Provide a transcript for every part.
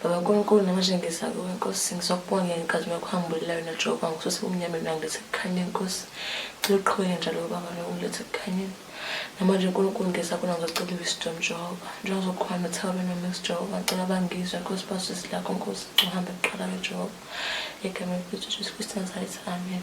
Baba Nkulunkulu namanje ngiza kuwe Nkosi ngizokubonga ngenkazimu yakho hambulelayo na Jehova ngisuse kumnyama mina ngilethe kukhanye Nkosi ngicela uqhubeke njalo baba lo ngilethe kukhanyeni namanje Nkulunkulu ngiza kona ngizocela wisdom Jehova njengoba uzokhona uthaba bena Max Jehova ngicela bangizwe Nkosi basisi lakho Nkosi uhambe kuqala ke Jehova egameni lethu Jesu Kristu Nazareth amen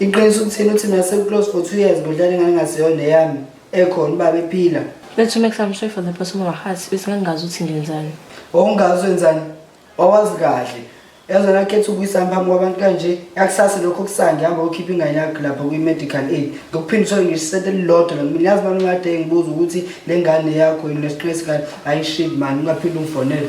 Iqiniso ukuthini uthi mina sekuclose for two years ngodlala ingane engasiyona eyami ekhona ubaba ephila. Let's make some sure for the person of our hearts bese ngangazi ukuthi ngenzani. Wawungazi wenzani? Wawazi kahle. Yaze nakhetha ukuyisa phambi kwabantu kanje yakusasa lokho kusange hamba ukhipha ingane yakho lapha kwi-medical aid ngokuphinda uthole ngisho isente elilodwa la mina yazi mani ungade ngibuza ukuthi le ngane yakho yini lesiqinisi kani ayishid mani ungaphinde ungifonele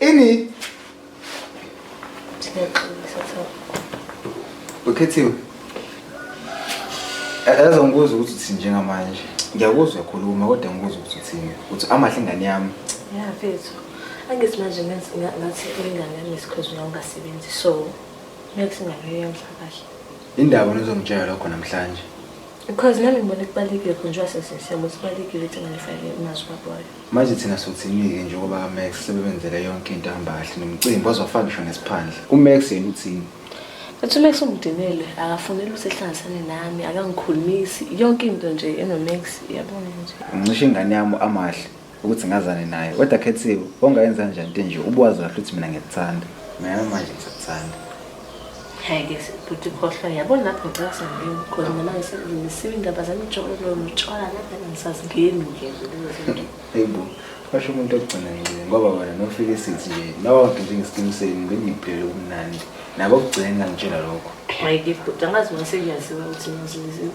Ini. Ukhethiwe. Yazi ngibuza ukuthi uthi njengamanje. Ngiyakuzwa khuluma kodwa ngibuza ukuthi uthini. Uthi amahle ingane yami. Yeah, mfethu. Angithi manje ngathi ingane yami isikhozi nawe ungasebenzi so next ingane yamhla kahle. Indaba nizongitshela lokho namhlanje. Because nami ngibona kubalekile khona njengoba sesiyabo sibalekile ukuthi ngalifake imazwi kwabayo. Manje thina sothini-ke njengoba kaMax sebebenzele yonke into ehamba kahle nomcimbi ozofaka ngisho nesiphandla. UMax yena uthini? Ethi uMax ungidinele, akafuneli ukuthi ehlanganisane nami, akangikhulumisi, yonke into nje enoMax, yabona nje. Ngicishe ingane yami amahle ukuthi ngazane naye. Kodwa Khethiwe, ongayenza njani into enje ubuwazi kahle ukuthi mina ngiyakuthanda. Nami manje ngisakuthanda. Hhayi ke bhuti khohlwa yabona lapho ngicela sangeni because mina ngisiwe indaba zamjolo notshwala kanti ngisazingeni nje lezozinto. Hey bo, basho umuntu ogcina ngcini ngoba wena nofika isithi nje nawawude njengesiqiniseni bengiphele ubumnandi nabo kugcina ngitshela lokho. Hhayi ke bhuti angazi uma sengiyaziwa ukuthi ngiyaziwa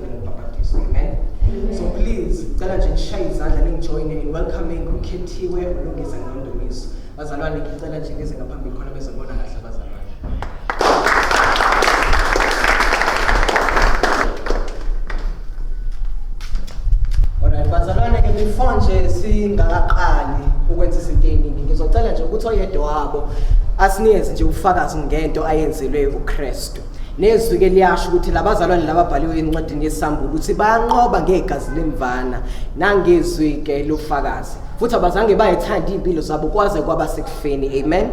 Ubhapatizo. Amen. So please ngicela nje nishaye izandla ningijoyine in welcoming ukhethiwe ulungise nondumiso. Bazalwane ngicela nje nize ngaphambili khona bezobona kahle abazalwane. Alright, bazalwane ke before nje singakaqali ukwenza izinto eziningi ngizocela nje ukuthi oyedwa wabo asinikeze nje ubufakazi ngento ayenzelwe uKristu. nezwi-ke liyasho ukuthi labazalwane lababhaliwe encwadini yesambulu ukuthi bayanqoba ngegazi lemvana nangezwi-ke lofakazi futhi abazange bayithanda iy'mpilo zabo kwaze kwaba sekufeni amen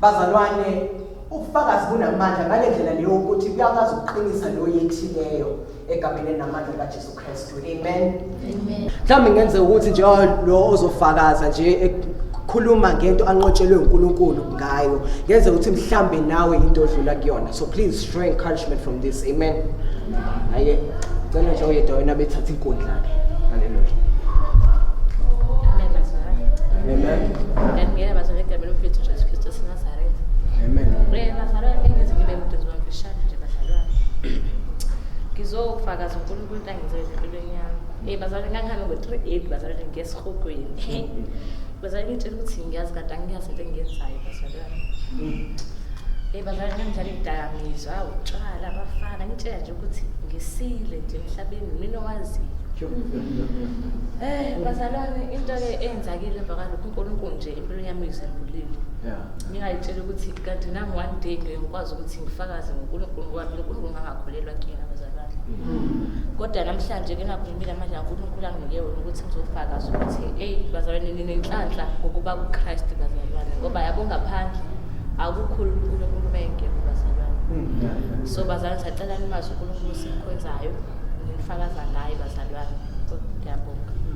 bazalwane ubufakazi bunamandla ngale ndlela leyo ukuthi kuyakwazi ukuqinisa loyo ethileyo egameni namandla kaJesu Kristu amen amen mhlawumbe ngenze ukuthi nje oh, lo ozofakaza nje khuluma ngento anqotshelwe uNkulunkulu ngayo ngenze ukuthi mhlambe nawe into odlula kuyona so please show encouragement from this amen aye cela nje oyedwa wena bethatha inkundla ke haleluya amen amen ngeke bazongena egameni lomfethu Jesu Kristu sinazaretha amen ngizofakaza unkulunkulu into angenziwe empilweni yami um bazalwane ngangihambe ngo-three eight bazalwane ngesihogweni bazalwane ngitshela ukuthi ngiyazi kade angiyazi into engiyenzayo bazalwane um bazalwane ngangidlala iy'dakamizwa utshwala abafana ngitshela nje ukuthi ngisile nje emhlabeni mina owaziyo Eh bazalwane into ke enzakile emva kalokho uNkulunkulu nje impilo yami uyizembulile. Yeah. Ngingayitshela ukuthi kanti nami one day ngiyokwazi ukuthi ngifakaze ngonkulunkulu ngoba mina unkulunkulu ngangakholelwa kuyena bazalwane kodwa namhlanje ke nakhulumile manje unkulunkulu anginike wona ukuthi ngizofakaza ukuthi eyi bazalwane ninenhlanhla ngokuba kukristu bazalwane ngoba yabo ngaphandle akukhulu unkulunkulu uma engekho bazalwane mm. so bazalwane sacela nimazi unkulunkulu simkhonzayo nifakaza ngaye bazalwane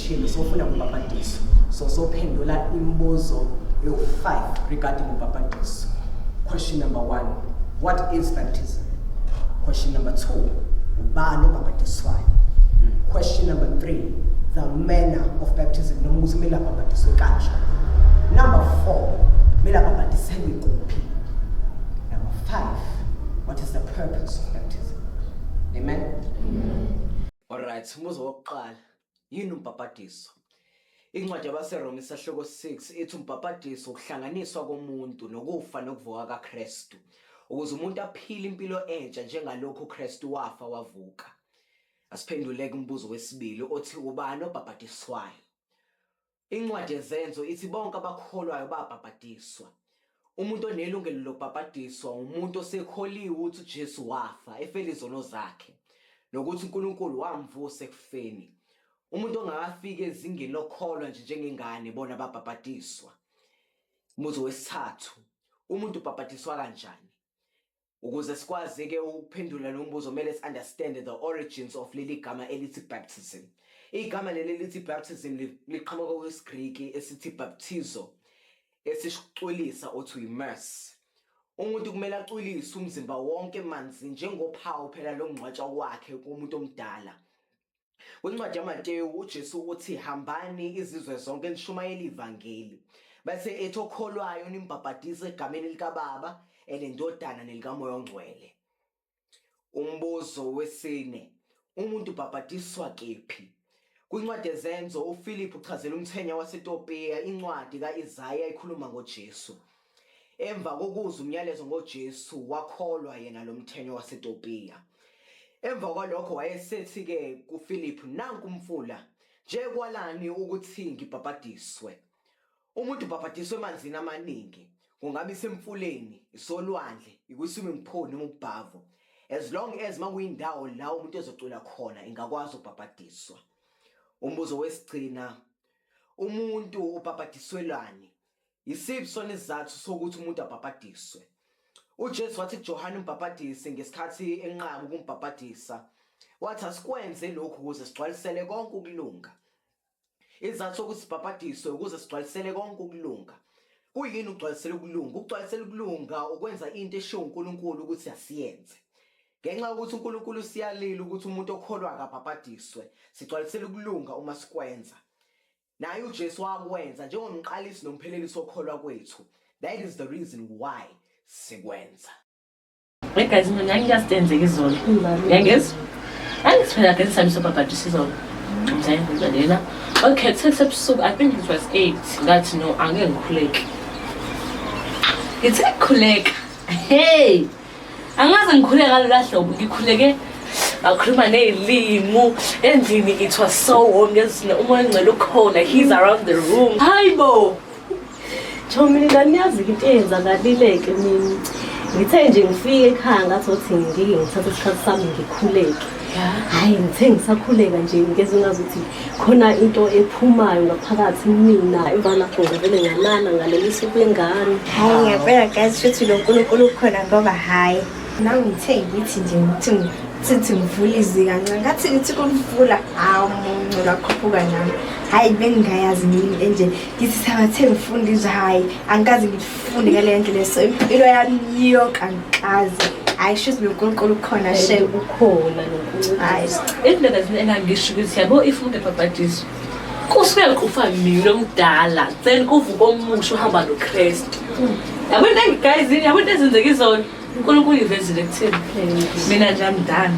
Thina sofuna kubhabhadisa. So sophendula imibuzo yo-5 regarding ubhabhadiso. Question number 1, what is baptism? Question number 2, ubani obhabhadiswayo? Question number 3, the manner of baptism noma ukuthi kumele abhabhadiswe kanjani. Number 4, kumele abhabhadiselwe kuphi? Number 5, what is the purpose of baptism? Amen. Amen. All right, umuzo wokuqala Yini umbhabhadiso? Incwadi yabaseRoma isahluko 6 ithi umbhabhadiso ukuhlanganiswa komuntu nokufa nokuvuka kaKristu ukuze umuntu aphile impilo entsha njengalokhu uKristu wafa wavuka. Asiphenduleke umbuzo wesibili othi ubani obhabhadiswayo? Incwadi yeZenzo ithi bonke abakholwayo babhabhadiswa. Umuntu onelungelo lokubhabhadiswa umuntu osekholiwe ukuthi uJesu wafa efela izono zakhe nokuthi uNkulunkulu wamvusa ekufeni. Umuntu ongakafiki ezingeni lokholwa nje njengengane bona babhabhadiswa. Umuzi wesithathu, umuntu ubhabhadiswa kanjani? Ukuze sikwazi ke ukuphendula lo mbuzo kumele si-understand the origins of leli gama elithi baptism. Igama leli elithi baptism liqhamuka kwisiGriki esithi baptizo esisicwilisa othi immerse. Umuntu kumele acwilise umzimba wonke manzi njengophawu phela longcwatshwa kwakhe kumuntu omdala. Kwincwadi yaMateyu uJesu uthi hambani izizwe zonke nishumayele ivangeli. Bese ethi okholwayo nimbhabhadise egameni likaBaba, elendodana nelikaMoya oNgcwele. Umbuzo wesine, umuntu ubhabhadiswa kephi? Kwincwadi yezenzo uFilip uchazela umthenya waseTopiya incwadi kaIsaya ikhuluma ngoJesu. Emva kokuzwa umyalezo ngoJesu wakholwa yena lo mthenya waseTopiya. Emva kwalokho wayesethi-ke kuFiliphu, nanku umfula, nje kwalani ukuthi ngibhabhadiswe. Umuntu ubhabhadiswa emanzini amaningi, kungabe isemfuleni, isolwandle, ikwi-swimming pool noma ubhavo. As long as makuyindawo la umuntu ezocula khona ingakwazi ukubhabhadiswa. Umbuzo wesigcina, umuntu ubhabhadiswelani? Yisiphi sona isizathu sokuthi umuntu abhabhadiswe? UJesu wathi kuJohane umbhabhadisi ngesikhathi enqaba ukumbhabhadisa, wathi asikwenze lokhu ukuze sigcwalisele konke ukulunga. Isizathu sokuthi sibhabhadiswe ukuze sigcwalisele konke ukulunga. Kuyini ukugcwalisela ukulunga? Ukugcwalisela ukulunga ukwenza into eshiwo uNkulunkulu ukuthi asiyenze. Ngenxa yokuthi uNkulunkulu usiyalile ukuthi umuntu okholwa akabhabhadiswe, sigcwalisela ukulunga uma sikwenza. Naye uJesu wakwenza njengomqalisi nomphelelisi okholwa kwethu. That is the reason why sikwenza. Hey guys, mina ngangiyazithe enzeke izolo. Ngiyangezwa. Angisiphela ke sami sobhabhadisa izolo. Ngizayini ngizalena. Okay, sese busuku. I think it was 8. Ngathi no, angeke ngikhuleke. Ngithe khuleka. Hey, angaze ngikhule ngalola hlobo ngikhuleke bakhuluma ney'limu endlini it was so warm ngezina umoya ongcela ukhona he's around the room hayi bo thomini kaniyazi into eyenzakalileke mina ngithe nje ngifike ekhaya ngathothi ngingike ngithathe isikhathi sami ngikhuleke hayi ngithe ngisakhuleka nje ngeze ngazi ukuthi khona into ephumayo ngaphakathi mina imvana khona vele ngalala ngalelisa ubengane hayi ngiyabona guys futhi lo nkulunkulu ukhona ngoba hayi nawe ngithe ngithi nje ukuthi sithi ngivula izika nca ngathi ngithi kulivula hawu muncu lakhuphuka nami hhayi bengingayazi ngini enje ngithi sabathe ngifunda izwe hhayi angikaze Fundi ke le ndlu leso impilo yami yonke angikaze hayi shizi nonkulunkulu ukhona she ukhona hayi indlela zini engangisho ukuthi yabo if umuntu ebhabhadizwa kusuke kufa mina omdala then kuvuka omusha uhamba nokristu yabo into engigayizini yabo into ezenzeka izona unkulunkulu ivezile kuthini mina nje amdala